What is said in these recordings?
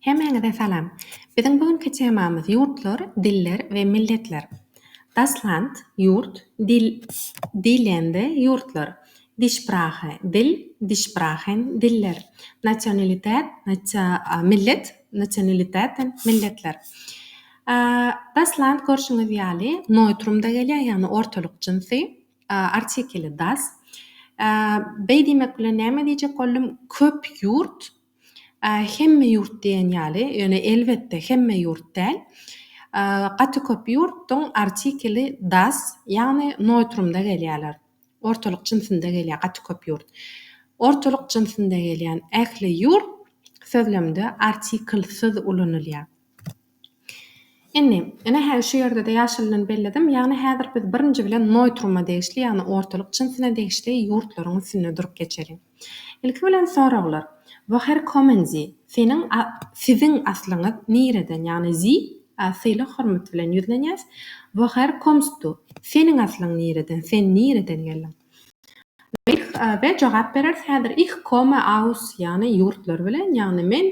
Hemmäňize salam. Biziň bu günki temamyz ýurtlar, diller we milletler. Das Land, ýurt, dil, die Länder, ýurtlar, die Sprache, dil, die Sprachen, diller, Nationalität, natio, millet, Nationalitäten, milletler. Das Land görşüňiz ýaly neutrumda gelýär, ýagny ortalyk jynsy, artikeli das. Beý diýmek bilen näme diýjek boldum, köp ýurt, Hemme ýurt diýen ýaly, ýöne elbetde hemme ýurt däl. Gaty köp ýurtdyň artikeli das, ýagny noýtrumda gelýärler. Ortalyk jinsinde gelýär gaty köp ýurt. Ortalyk jinsinde gelýän ähli ýurt sözlemde artikelsyz ulanylýar. Indi, ine, hä şu ýerde-de ýaşylydan belledim, ýagny häzir biz birinji bilen noýtruma degişli, ýagny ortalyk jynsuna degişli ýurtlaryň üstünde durup geçeliň. Ilki bilen soraglar, Woher kommen Sie? Seniň, a, siziň aslyňyz nireden? Ýagny Sie, a, sylag-hormat bilen ýüzlenýäs. Woher kommst Du? Seniň aslyň nireden? Sen nireden geldiň? We, a, we jogap bereris häzir Ich komme aus, ýagny ýurtlary bilen, ýagny men,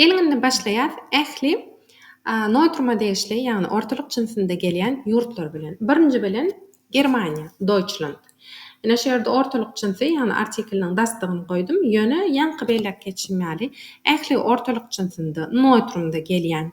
Geliň indi başlaýas ähli Notruma degişli ýagny ortalyk jynsynda gelýän ýurtlar bilen. Birinji bilen Germaniýa, Deutschland. Ine şu ýerde ortalyk jynsy ýagny artikliniň dastygyny goýdum, ýöne ýaňky belläp geçişim ýaly ähli ortalyk jynsynda, Notrumda gelýän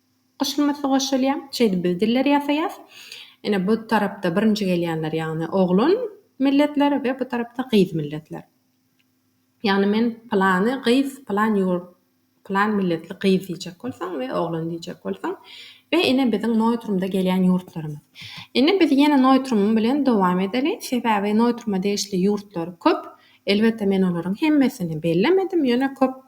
Goşulmasy goşulýar. Şeýdip biz dilleri ýasaýas. Ine bu tarapda birinji gelýänler ýagny oglan milletler we bu tarapda gyz milletler. Ýagny men pylany gyz pylan ýurt pylan milletli gyz diýjek bolsaň we oglan diýjek bolsaň we ine biziň noýtrumda gelýän ýurtlarymyz. Indi biz ýene noýtrum bilen dowam edeli. Sebäbi noýtruma degişli ýurtlar köp. Elbetde men olaryň hemmesini bellemedim ýöne köp.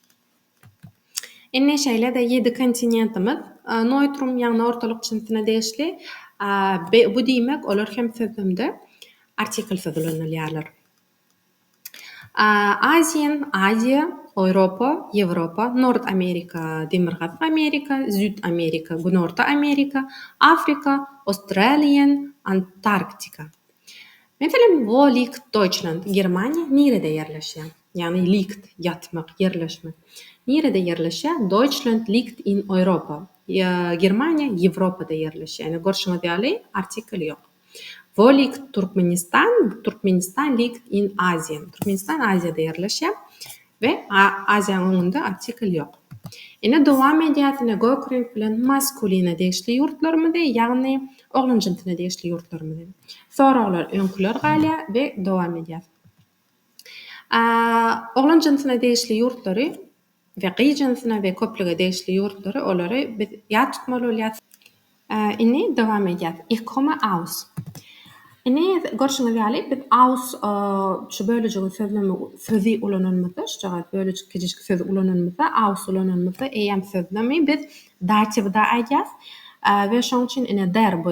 Indi şeýle-de ýedi kontinentimiz Noýtrum, ýagny ortalyk jinsyna degişli. Bu diýmek, olar hem sözlemde artiklsyz ulanylýarlar. Aziýa, Aziýa, Oýropa, Ýewropa, Nord Amerika, Demirgazyk Amerika, Züýt Amerika, Günorta Amerika, Afrika, Australian, Antarktika. Meselem, Wo liegt Deutschland, Germaniýa nirede ýerleşýär? Ýagny liegt, ýatmak, ýerleşmek. Nirede ýerleşýär? Deutschland liegt in Europa. Germaniýa Ýewropada ýerleşýär. Ine, görşüňiz ýaly, artikel ýok. Wo liegt Turkmenistan? Turkmenistan liegt in Asien. Türkmenistan Aziýada ýerleşýär. We Aziýanyň öňünde artikel ýok. Ine, dowam edýäris. Ine, gök reňk bilen maskuline degişli ýurtlarymyzy, ýagny oglanjynsyna degişli ýurtlarymyzy. Soraglar öňküler galýar we dowam edýäris. A oglan jynsyna degişli ýurtlary we gyz jynsyna we köplüge degişli ýurtlary olary biz ýat tutmaly bolýar. A indi dowam edýäs. Ich komme aus. Indi görşüňiz ýaly biz aus şu bölejigiň sözlemi sözi ulananymyzda şujagaz bölejik kiçijik sözi ulananymyzda aus ulananymyzda eýýäm sözlemi biz datiwda aýdýas we şonuň üçin ine der bu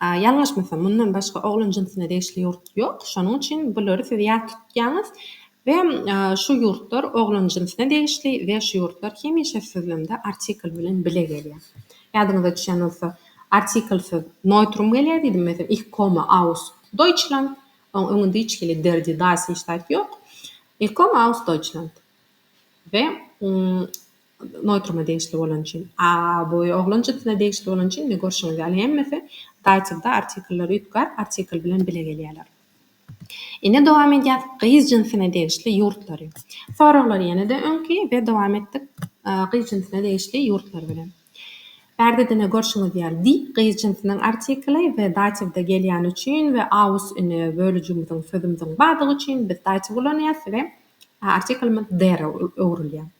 A ýalňyşmasam, mundan başga oglan jynsuna degişli ýurt ýok, şonuň üçin bulary siz ýat tutýaňyz we şu ýurtlar oglan jynsuna degişli we şu ýurtlar hemişe sözlemde artikl bilen bile gelýär. Ýadyňyza düşýän bolsa, artiklsyz neutrum gelýär diýdim, meselem, ich komme aus Deutschland, oň öňünde hiç hili der die das hiç zat ýok. Ich komme aus Deutschland we Noýtruma degişli bolany üçin. A bu oglan jynsuna degişli bolany üçin, indi görşüňiz ýaly, hemmesi datyw-da artikller üýtgär, artikl bilen bile gelýärler. Indi dowam edýäs gyz jynsuna degişli ýurtlary. Soraglar ýene-de öňki we dowam etdik gyz jynsuna degişli ýurtlar bilen. Bärde-de görşüňiz ýaly, di gyz jynsynyň artikly we datyw-da gelýäni üçin we aus indi bölüjimiziň sözümiziň bardygy üçin biz datyw ulanýarys we artiklymyz der öwrülýär.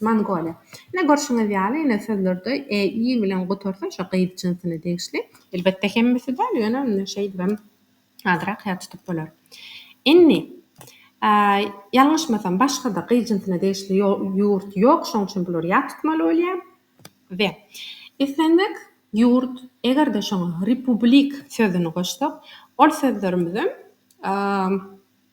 Mongoliýa. Ine, görşüňiz ýaly, ine, sözlerde e, i bilen gutarsa, şo gyz jynsyna degişli. Elbetde, hemmesi däl, ýöne indi şeýdibem azrak ýat tutup bolar. Indi, a, ýalňyşmasam, başga-da gyz jynsyna degişli ýo, ýurt ýok, şonuň üçin bulary ýat tutmaly bolýar. We, islendik ýurt, eger-de şoňa republik sözüni goşsak, ol sözlerimizem, a,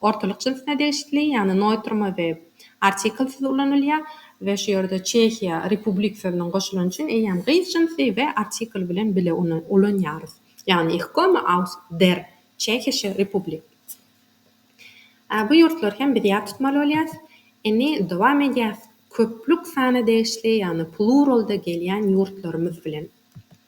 Ortalyk jynsuna degişli, ýagny noýtrma we artiklsiz ulanylýar we şu ýerde Çehiýa republik sözüniň goşulany üçin eýýäm gyz jynsy we artikl bilen bile ony ulanýarys. Ýagny Ich komme aus der Tschechische Republik. A bu ýurtlary hem biz ýat tutmaly bolýarys. Indi dowam edýäris köplük sana degişli, ýagny pluralda gelýän ýurtlarymyz bilen.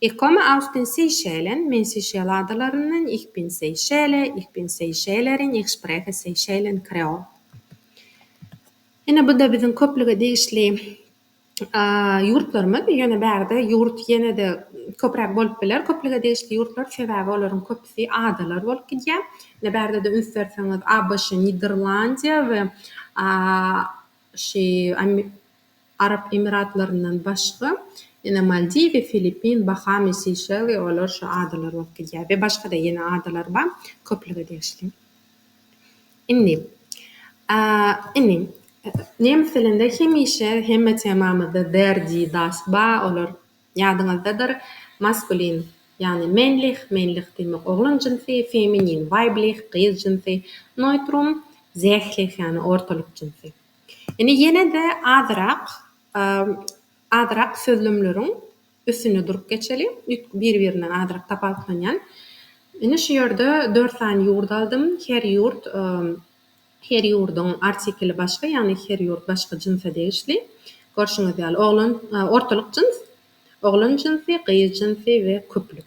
Ich komme aus den Seychellen, men Seýşel adalaryndan, Ich bin Seychelle, ich bin Seychellerin, ich spreche Seychellen Kreol. Ine bu-da biziň köplüge degişli ýurtlarymyz, ýöne bärde ýurt ýene-de köpräk bolup biler, köplüge degişli ýurtlar, sebäbi olaryň köpüsi adalar bolup gidýär. Ine bärde-de üns berseňiz, ABŞ, Niderlandiýa we şu Arap Emiratlaryndan başga, ýene Maldiwi, Filippin, Bahamy, Seýşeli, olar şu adalar bolup gidýär we başga-da ýene adalar bar, köplüge degişli. Indi, indi, nemes dilinde hemişe hemme temamyzda der, die, das, ba, olar, ýadyňyzdadyr, maskulin, ýagny männlich, männlich diýmek oglan jynsy, feminin, weiblich, gyz jynsy, neutrum, sählich, ýagny ortalyk jynsy. Indi ýene-de azyrak, azyrak sözlemleriň üstünde durup geçeli. Üýtgüp bir-birinden azyrak tapawutlanýan. Indi şu ýerde dört sany ýurt aldym. Her ýurt, her ýurduň artikeli başga, ýagny her ýurt başga jynsa degişli. Görşüňiz ýaly, oglan, ortalyk jyns, oglan jynsy, gyz jynsy we köplük.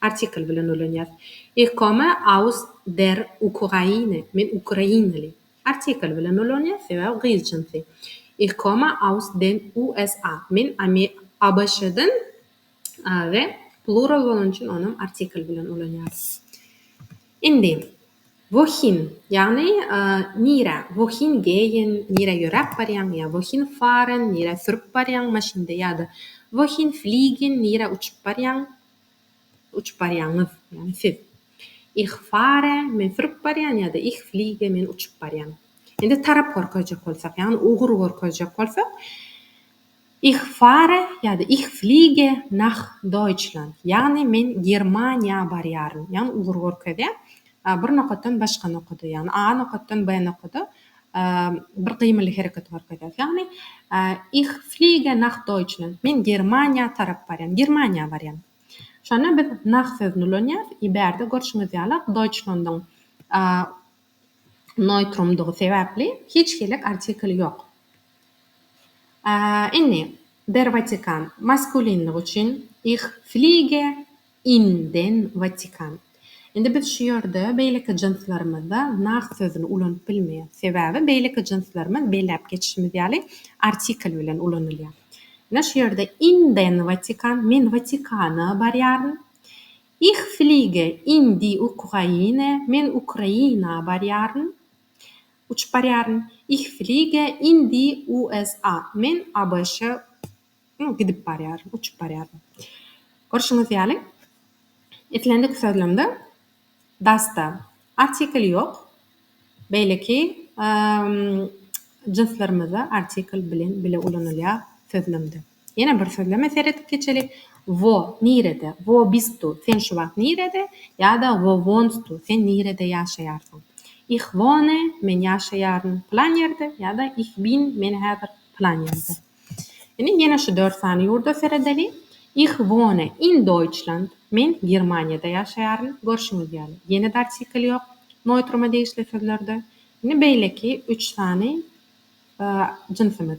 Artikl bilen ulanýas. Ikome aus der Ukraine, men ukrainaly. Artikl bilen ulanýas, sebäbi gyz jynsy. Ikome aus den USA, men ABŞ-dan we plural bolany üçin onam artikl bilen ulanýas. Indi. Wohin, ýagny nirä, wohin geýen, nirä ýöräp barýaň, ýa wohin fahren, nirä sürüp barýaň maşynda, ýa-da wohin fliegen, nirä uçup barýaň, uçup barýaňyz, ýagny siz. Ich fahre, men sürüp barýan, ýa-da Ich fliege, men uçup barýan. Indi tarap görkezjek bolsak, ýagny ugur görkezjek bolsak, Ich fahre ýa-da Ich fliege nach Deutschland, ýagny men Germaniýa barýaryn, ýagny ugur görkezýär. Bir nokatdan başga nokada, ýagny A nokatdan B nokada bir gymyly hereket görkezýär. Ýagny Ich fliege nach Deutschland, men Germaniýa tarap barýan, Germaniýa barýan. Şonda biz nach sözüni ulanýarys, e bärde görşüňiz ýaly Deutschlandyň Neýtrumdygy sebäpli hiç hili artikl ýok. Indi, der Watikan, maskulinlik üçin, Ich fliege in den Vatikan. Indi biz şu ýerde beýleki jynslarymyzda nach sözüni ulanyp bilmeýäs. Sebäbi beýleki jynslarymyz belläp geçişimiz ýaly artikl bilen ulanylýar. Ine şu ýerde in den Vatikan, men Watikana barýaryn. Ich fliege in die Ukraine, Men Ukraina barýaryn, uçup barýaryn. Ich fliege in die USA, Men ABŞ-a gidip barýaryn, uçup barýaryn. Görşüňiz ýaly, islendik sözlemde das-da artikel ýok, beýleki jynslarymyzda artikel bilen bile ulanylýar sözlemde. Ýene bir sözleme seredip geçeli, Wo, nirede, wo bist du, sen şu wagt nirede, ýa-da Wo wohnst du, sen nirede ýaşaýarsyň. Ich wohne, men ýaşaýaryn pylan ýerde, ýa-da Ich bin, men häzir pylan ýerde. Indi ýene şu dört sany ýurda seredeli, Ich wohne in Deutschland, men Germaniýada ýaşaýaryn, görşüňiz ýaly, ýene-de artikl ýok Neutruma degişli sözlerde. Indi beýleki üç sany jynsymyz.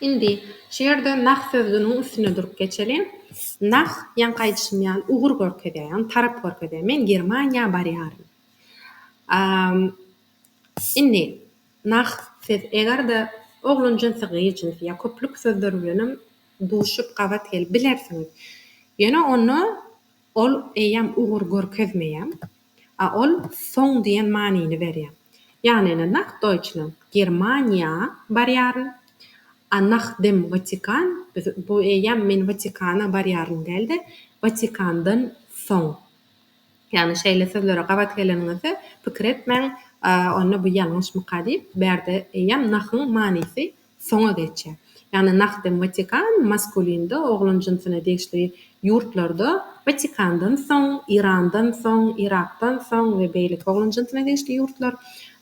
Indi şu ýerde nah sözüniň üstünde durup geçeliň. Nah, ýaňky aýdyşym ýaly, ugur görkezýär, ýagny tarap görkezýär. Men Germaniýa barýaryn. Indi, nah, siz eger-de oglan jynsy, gyz jynsy ýa köplük sözler bilenem duşup, gabat gelip bilersiňiz. Ýöne onda ol eýýäm ugur görkezmeýär. A ol soň diýen manyny berýär. Ýagny ine nah Deutschland Germaniýa barýaryn. A nach dem Vatikan biz bu eýýäm men Watikana barýaryn däl-de, Watikandan soň. Ýagny şeýle sözlere gabat geleniňizde pikir etmäň, onda bu ýalňyşmyka diýip, bu ýerde eýýäm nahyň manysy soňa geçýär. Ýagny Nahdem Watikan maskulinda, oglan jynsyna degişli ýurtlarda Watikandan soň, Irandan soň, Yrakdan soň we beýleki oglan jynsyna degişli ýurtlar,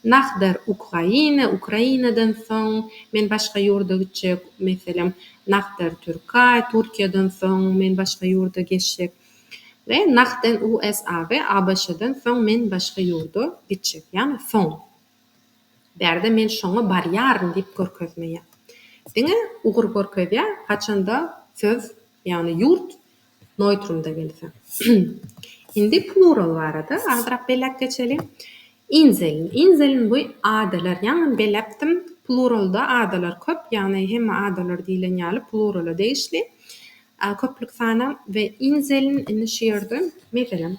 Nahder Ukraine, Ukrainadan soň, men başga ýurda gitjek, meselem, Nahder Türkay, Türkiýeden soň, men başga ýurda geçjek we Nahden USA we ABŞ-dan soň, men başga ýurda gitjek, ýagny soň. Bärde men şoňa barýaryn diýip görkezmeýär. Diňe ugur görkezýär, haçanda söz, ýagny ýurt noýtrumda gelse. Indi plural barada azyrak belläp geçeli. Inseln. Inseln bu adalar. Ýaňy beläpdim, pluralda adalar köp, ýagny hemme adalar diýlen ýaly plurala degişli, köplük sana we inseln indi şu ýerde, meselem,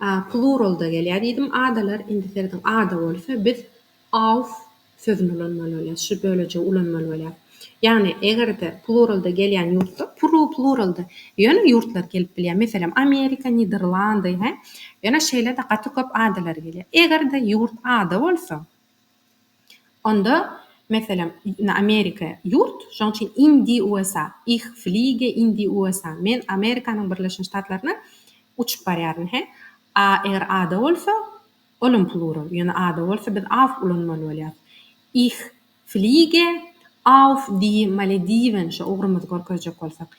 A pluralda gelýär diýdim. Adalar, indi serediň, ada bolsa biz auf sözüni ulanmaly bolýarys, şu bölejigi ulanmaly bolýarys. Ýagny eger-de pluralda gelýän ýurtda pru pluralda ýöne ýurtlar gelip bilýär. Meselem, Amerika, Niderlandy, he? Ýöne şeýle-de gaty köp adalar gelýär. Eger-de ýurt ada bolsa, Onda, meselem, indi Amerika ýurt, şonuň üçin in di USA, ih fliege in di USA, men Amerikanyň Birleşen Ştatlaryna uçup barýaryn, he. A eger A-da bolsa, olam plural, ýöne A-da bolsa biz auf ulanmaly bolýarys. Ih fliege auf di Malediven, şo ugrumyzy görkezjek bolsak.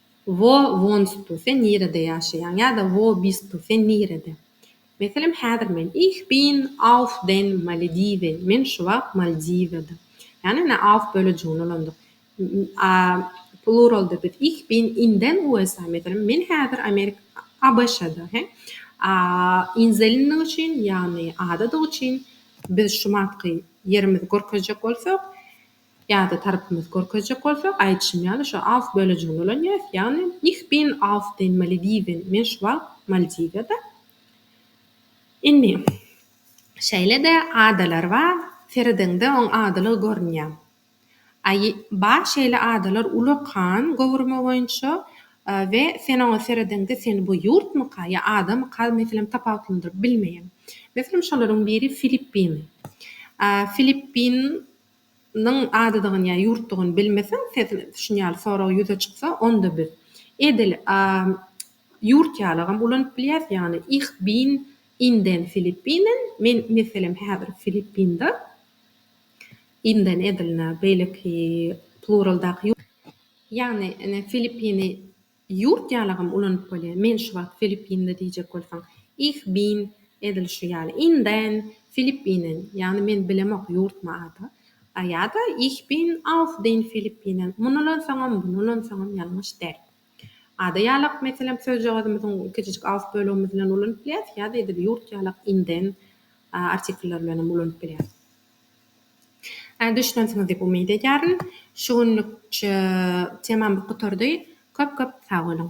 Wo wonstu, sen nirede ýaşaýaň? ýa-da Wo bistu, sen nirede? Meselem, häzir men Ich bin auf den Malediven, men şu wagt Maldiwdadym. Ýagny, ine, auf bölejigini ulandyk. A pluralda biz Ich bin in den USA, meselem, men häzir Amerika, ABŞ-da, he? A inzelinlik üçin, ýagny adadyk üçin, biz şu wagtky ýerimizi görkezjek bolsak, Ýa-da tarapymyzy görkezjek bolsak, aýdyşym ýaly, şu auf bölejigini ulanýarys, ýagny Ich bin auf den Malediven, men şu wagt Maldiwada. Indi, şeýle-de adalar bar, seredeňde oň adalygy görünýär. A ýe, bar şeýle adalar uly okean göwrümi boýunça we sen oňa seredeňde seni bu ýurtmyka ýa adamyka, meselem, tapawutlandyryp bilmeýäň. Meselem, şolaryň biri Filippin. A, Filippin. Nyň adydygyny ýa ýurtdugyny bilmeseň, sesiň şuny ýaly sorag ýüze çyksa, onda biz, edil, a, ýurt ýalygam ulanyp bilýäs, ýagny, Ich bin in den Filippinen, men, meselem, häzir Filippinde, inden edil, na, beýleki, pluraldaky, ýagny, ine, Filippini. Ýurt ýalagam ulanyp bolýar. Men şu wagt Filippinli diýjek bolsaň, Ich bin, edil şu ýaly, in den Filippinen, ýagny men bilemok ýurtmy ada, a ýa-da Ich bin auf den Filippinen, muny ulansaňam, buny ulansaňam ýalňyş däl. Ada ýalak, meselem, sözjagazymyzyň kiçijik auf bölegimiz bilen ulanyp bilýäs, ýa-da edil ýurt ýalak in den artiklleri bilen hem ulanyp bilýäs. Düşünensiňiz diýip umyt edýärin. Şu günlük temam gutardy. Köp köp sag boluň.